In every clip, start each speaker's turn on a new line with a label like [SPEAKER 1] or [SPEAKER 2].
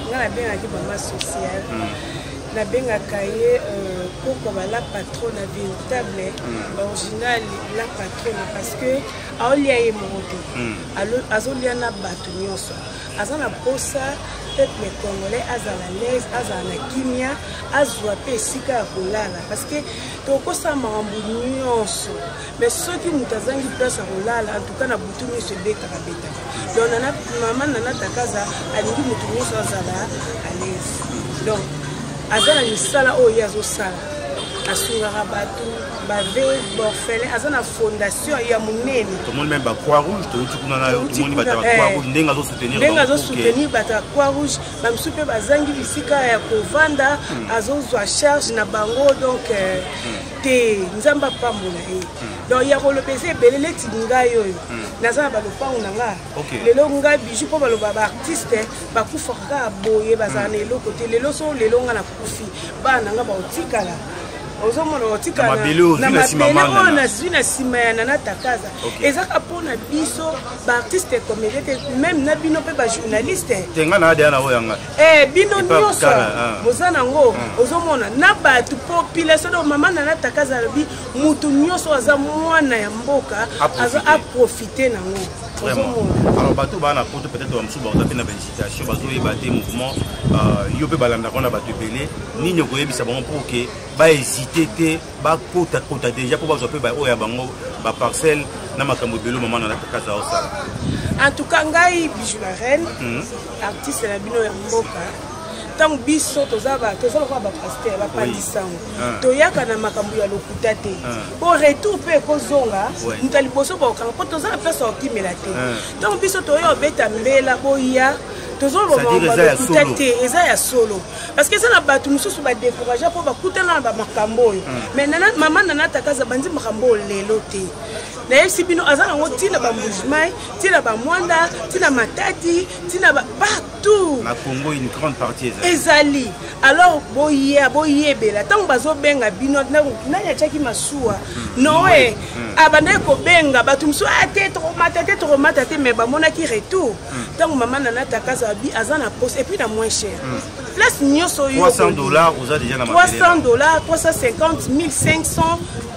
[SPEAKER 1] nga nabengaki mama social hmm. nabengaka ye euh, koko ba la patrona véritable hmm. original la patrona parce que aolia ye moko te hmm. azolia na bato nyonso aza na mposa peuple congolais azala laise azala na kimia azwa mpe esika ya kolala parce que tokosala makambo nyonso me soki moto azangi place ya kolala antuka na butu nyonso ebetaka betaka donc nana mama nana takaza alingi moto nyonso azala alaise donc aza na misala oyo ye azosala asungaka bato bave borfele aza na fondation ya monene tomoni meme bacroix
[SPEAKER 2] rouge touti kuna nayo tomoni bato ya bacroix eh. rouge ndenge azosoutenir ndenge azosoutenir bato ya croix rouge
[SPEAKER 1] bamosusu mpe bazangi bisika ya kovanda hmm. azozwa charge na bango donc euh, hmm. te nzambe apambola ye hmm. donc ya koloba eza ebele neti ngai oyo hmm. naza na balopango na nga lelo ngai biju mpo baloba baartiste bakufaka kaka boye bazala na hmm. eloko te lelo so lelo ngai nakufi bana na ngai baotikala ozomona otika na mabele oyo nazwi na nsima ya nana takaza ezaka mpo na biso baartiste comédien te meme na bino mpe bajournaliste tenga na adeya na oyo yanga
[SPEAKER 2] Eh, bino nyonso
[SPEAKER 1] ah. boza nango ah. ozomona na bato population do mama na nataka azalobi motu nyonso aza mwana ya mboka aprofite nango alors
[SPEAKER 2] bato baa na poto peut-être bamosusu baoza mpe na bainsitation bazoyeba te mouvement euh, yo mpe balandaka na bato ebele nini okoyebisa bango mpo ke bahésite te bakota kota deja mpo bazwa mpe baoyo ya bango baparcelle na makambo ebele mama na natakaza osala en tout cas
[SPEAKER 1] ngai bijou la reine hmm. artiste na bino ya mboka ntango biso toza lokola bapaster bapandisango ah. toyaka na makambo ya lokuta te mpo ah. retour mpe ekozonga moto ya liboso bakokanga mpo toza na place ya kokimela te ah. ntango biso toya obeta mbela boya tozolobalokuta te eza ya solo parce que eza na bato mosusu badécouragea mpo bakutana na bamakambo oyo mm. mais nana, mama nana takaza banzi makambo oyo lelo te nayebisi bino aza nango ntina bambujimai ntina bamwanda ntina matadi ntina partout
[SPEAKER 2] ezali
[SPEAKER 1] alors boya boyebela ntango bazobenga bino nani atyaki masuwa hmm. noe hmm. abandaki kobenga bato mosusu ate ah, tokomata te tokomata te mais bamonaki retour ntango mama nana takazo abi aza na poste epuis na moins cher hmm. place nyonso yo 300 dollars oza
[SPEAKER 2] deja na 300 dollars
[SPEAKER 1] 350 1500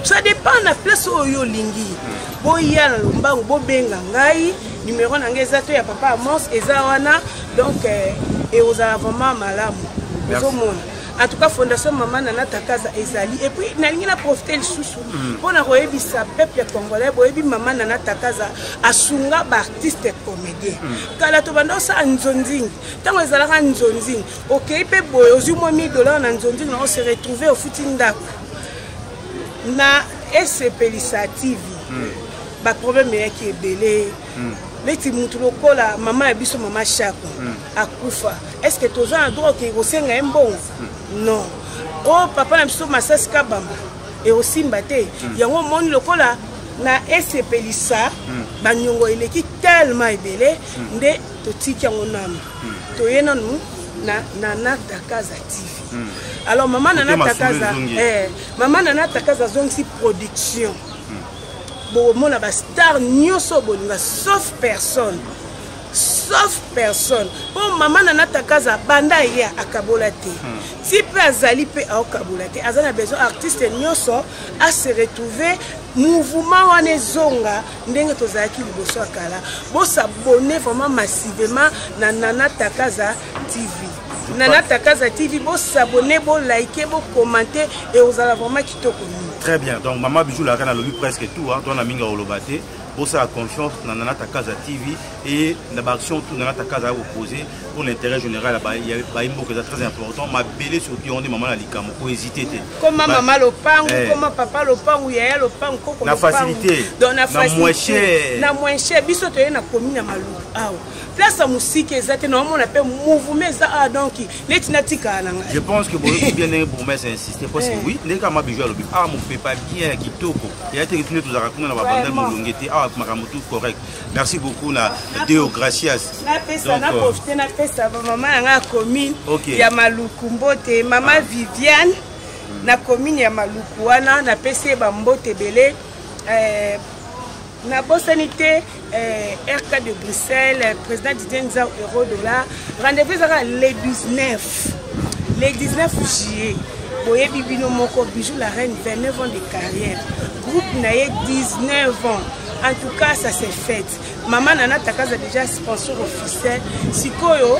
[SPEAKER 1] ça dépend na place oyo olingi hmm. boya na lombangu bobenga ngai numero na ngai eza to ya papa amos eza wana donc ekozala eh, vraiment malamu ozomona en tout cas fondation mama nana takaza ezali et puis nalingi na profite lisusu hmm. mpo na koyebisa peuple congolais boyebi mama nana takaza asunga baartiste comédien hmm. kala tobanda osala nzonzingi ntango ezalaka nzonzingi okei mpe boye ozwi mwa 1000 dollar na nzonzingi na ose retrouve ofuti ndako na esepelisa tv hmm. baproblème eyaki ebele neti motu lokola mama ya biso mama shako akufa est ce que toza na droit okei kosenga ye mbongo hmm. non o oh, papa na biso masasi kabamba ekosimba te hmm. yango omoni lokola na esepelisa hmm. banyongo eleki tellement ebele nde totiki yango nanu toye nanu na nana takaza tv alors mama nana takaza eh, mama nana takaza azongisi production bokomona bastar nyonso bolinga sauf personne sauf personne mpo mama na natakaza banda ye akabola te hmm. ti mpe azali mpe aokabola te aza na besoin artiste nyonso ase retrouve mouvement wana ezonga ndenge tozalaki liboso ya kala bosabone vraiment massivement na nana takaza tv nana takaza tv bosabone bolike bokomante ekozala vraiment kitoko mingi très bien donc
[SPEAKER 2] mama bijou laka nalobi presque tout hein, to na mingi akoloba te bosala confiance na nana takaza tv et na baaction tout nana takaza ya kopose pour l'intérêt général bayi mboka eza très important mabele surtout yango nde mama na likambo ko hésite te koma mama
[SPEAKER 1] lopangu eh. koma papa lopangu yaya lopangu koko na facilité
[SPEAKER 2] na moins
[SPEAKER 1] cher na moins cher biso toye na commune ya maluku awa place ya mosika eza te naomona mpe mouvement eza awa ah, donki neti natikala na ngai je pense que boyoki bien
[SPEAKER 2] ndenge bourgmestre insiste parce que eh. oui ndenge kaka mabiju alobi awa ah, mopepa bien ya kitoko eya teke tune tozalaka kuna na babandal molonge te awa ah, makambo tout correct merci beaucoup na deo gracias naprofite
[SPEAKER 1] napesa euh, bamama na ngai ya commune ya maluku mbote mama ah. viviane na commune ya maluku wana napesi ye bambote ebele euh, nabosani te eh, rk de bruxelles président didier nzau euro dollar rendez-vous ezaka le 19 le 19 juillet boyebi bino moko bijou la reine 29 ans de carrière groupe na ye 19 ans en tout cas ça s'est faite mama nana takaza déjà sponsor officiel sikoyo